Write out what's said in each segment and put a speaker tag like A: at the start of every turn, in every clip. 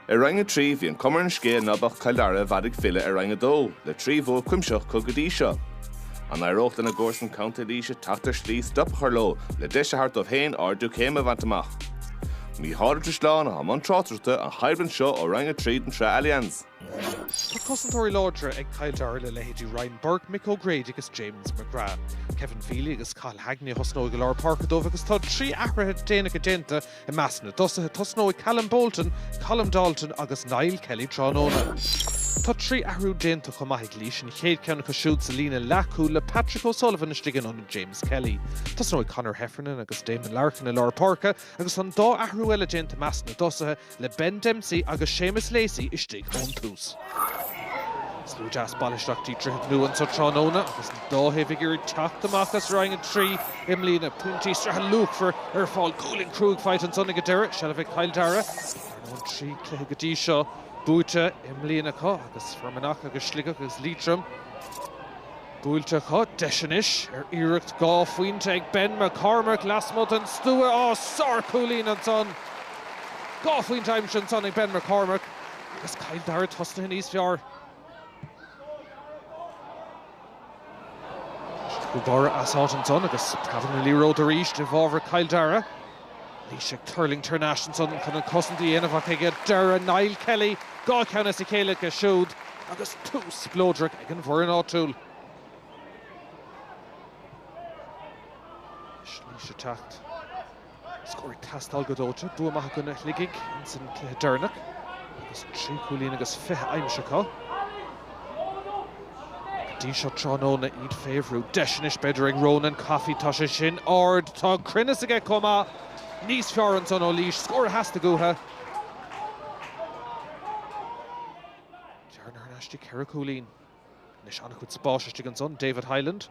A: I Roinn 3 bhí an cuma ar an scéal ná beadh Cill Dara i bhfad ag filleadh ar Roinn 2 le trí bhua cuimsitheach acu go dtí seo. An éireodh lena gcomharsan Co. Laoise teacht ar shlí stop a chur leo le deis a thabhairt dóibh féin ardú céime a bhaint amach? Mícheál Ó Drisleáin atá i mbun tráchtaireachta an choimhlint seo ó Roinn 3 den tSraith Allianz.
B: Tá cosantóirí láidre ag Cill Dara le leithéidí Ryan Burke, Mick O'Grady agus James McGrath. Kevin Feely agus Cathal Hagney a thosnóidh i lár páirce dóibh agus tá trí athruithe déanacha déanta I measc na dtosaithe tosnóidh Callum Bolton, Colm Dalton agus Niall Kelly tráthnóna. Tá trí athrú déanta chomh maith ag Laois, an chéad cheann acu siúd sa líne leathchúil le Patrick O'Sullivan istigh in ionad James Kelly. Tosnóidh Conor Heffernan agus Damon Larkin i lár páirce agus an dá athrú eile déanta i measc na dtosaithe le Ben Dempsey agus Séamus Lacey istigh ón tús. Slua deas bailithe isteach go dtí Droichead Nua anseo tráthnóna agus an dá thaobh ag iarraidh teacht amach as Roinn 3 i mbliana. Pointí sraithe luachmhar ar fáil. Gualainn chruaidh faighte ansan ag an deireadh. Seilbh ag Cill Dara. Ar ndóigh trí chluiche go dtí seo buaite i mbliana acu agus Fear Manach agus Sligeach agus Liatroim buailte acu. Deis anois ar iarracht dhá phointe ag Ben McCormack lasmuigh den stua. Sárchúilín ansan. Dhá phointe aimsithe ansan ag Ben McCormack. Agus Cill Dara tosnaithe níos fearr. Siad chomh barr as áit ansan agus tagann an liathróid arís i bhfabhar Chill Dara. Laois ag tuirlingt thar n-ais ansan chun an cosaint a dhéanamh ach ag deireadh, Niall Kelly dhá cheann as a chéile aige siúd agus tús spleodrach ag an bhfoireann áitiúil. Laois ag teacht. Scór ag teastáil go dóite, bua maith i gcoinne Shligigh ins an cluiche deireanach agus trí chúilín agus fiche aimsithe acu go dtí seo tráthnóna iad fé bhrú. Deis anois b'fhéidir ag Ronan Coffey, tá sé sin ard, tá an cruinneas aige chomh maith, níos fearr ansan ó Laois, scór a theastaigh uathu. Bearna thar n-ais go dtí ceithre chúilín. Anois an-chuid spáis istigh ansan, David Hyland,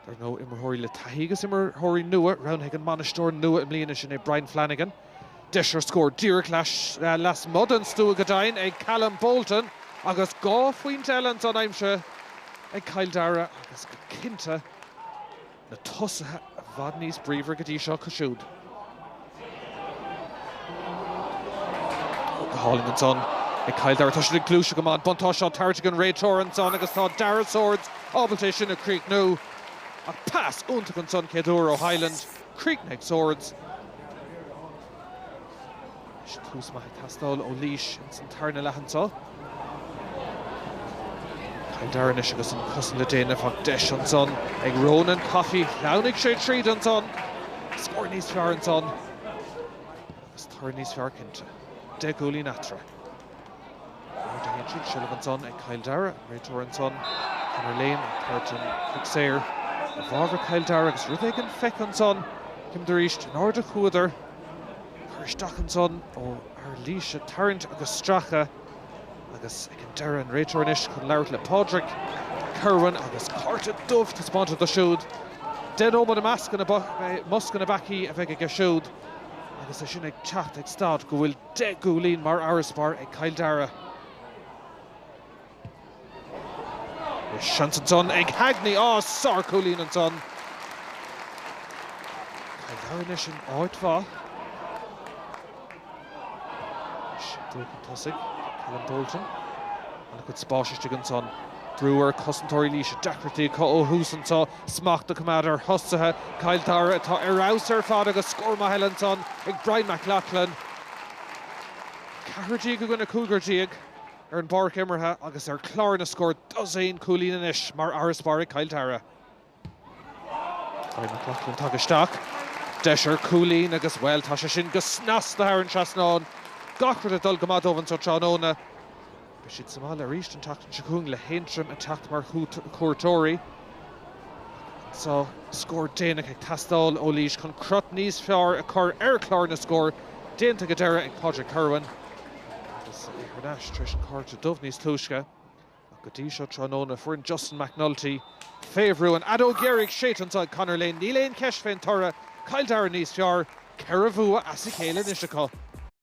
B: dar ndóigh, imreoirí le taithí agus imreoirí nua. Roghnaithe ag an mbainisteoir nua i mbliana, sin é Brian Flanagan. Deis ar scór díreach lasmuigh den stua go deimhin ag Callum Bolton agus dhá phointe eile ansan aimsithe ag Cill Dara agus go cinnte, na tosaithe i bhfad níos bríomhaire go dtí seo acu siúd. Go hálainn ansan ag Cill Dara. Tá siad ag gluaiseacht go maith. An buntáiste á tabhairt ag an réiteoir ansan agus tá Darragh Swords ábalta é sin a chríochnú. Ach pas iontach ansan, céad uair, ó Hyland. Críochnaithe ag Swords. Tús maith ag teastáil ó Laois ins an tarna leath anso. Cill Dara anois agus an cosaint le déanamh ach deis ansan ag Ronan Coffey. Lean sé tríd ansan. Scór níos fearr ansan agus toradh níos fearr cinnte. Deich gcúilín eatarthu. Nuair a théann siad, seilbh ansan ag Cill Dara, an réiteoir ansan, Conor Lane ag tabhairt an chic shaoir i bhfabhar Chill Dara agus rud éigin feicthe ansan, címid arís, in airde chuadar, cur isteach ansan ó fhear Laoise, tarraingt agus stracadh agus ag an deireadh an réiteoir anois chun labhairt le Pádraic Kirwan agus cárta dubh taispeánta dó siúd, deich nóiméad i mbosca na bpeacaí a bheidh aige siúd agus é sin ag teacht ag stad go bhfuil. 10 gcúilín mar fharasbarr ag Cill Dara is seans ansan ag Hagney, á, sárchúilín ansan! Cill Dara anois in áit mhaith anois ag dul chun tosaigh, Callum Bolton, an-chuid spáis istigh ansan, brú ar chosantóirí Laoise, deacrachtaí acu ó thús anso. Smacht a choimeád ar thosaithe Chill Dara atá ar fheabhas ar fad agus scór maith eile ansan ag Brian Mac Lochlainn, 14 i gcoinne 15 ar an bpáirc imeartha agus ar chlár na scór dosaen cúilín anois mar fharasbarr ag Cill Dara. Brian Mac Lochlainn tagtha isteach, deis ar chúilín agus, bhuel, tá sé sin go snasta thar an trasnán. Gach rud ag dul go maith dóibh anso tráthnóna. Beidh siad sa mbaile arís an tseachtain seo chugainn le hAontroim ag teacht mar chuairteoirí agus tá scór déanach ag teastáil ó Laois chun crot níos fearr a chur ar chlár na scór. Déanta go deireadh ag Pádraig Kirwan agus é thar n-ais tar éis an cárta dubh níos túisce. Ach go dtí seo tráthnóna, foireann Justin McNulty, fé bhrú, an fheadóg dheiridh, séidte anso ag Conor Lane, níl aon cheist fén toradh, Cill Dara níos fearr, ceithre bhua as a chéile anois acu.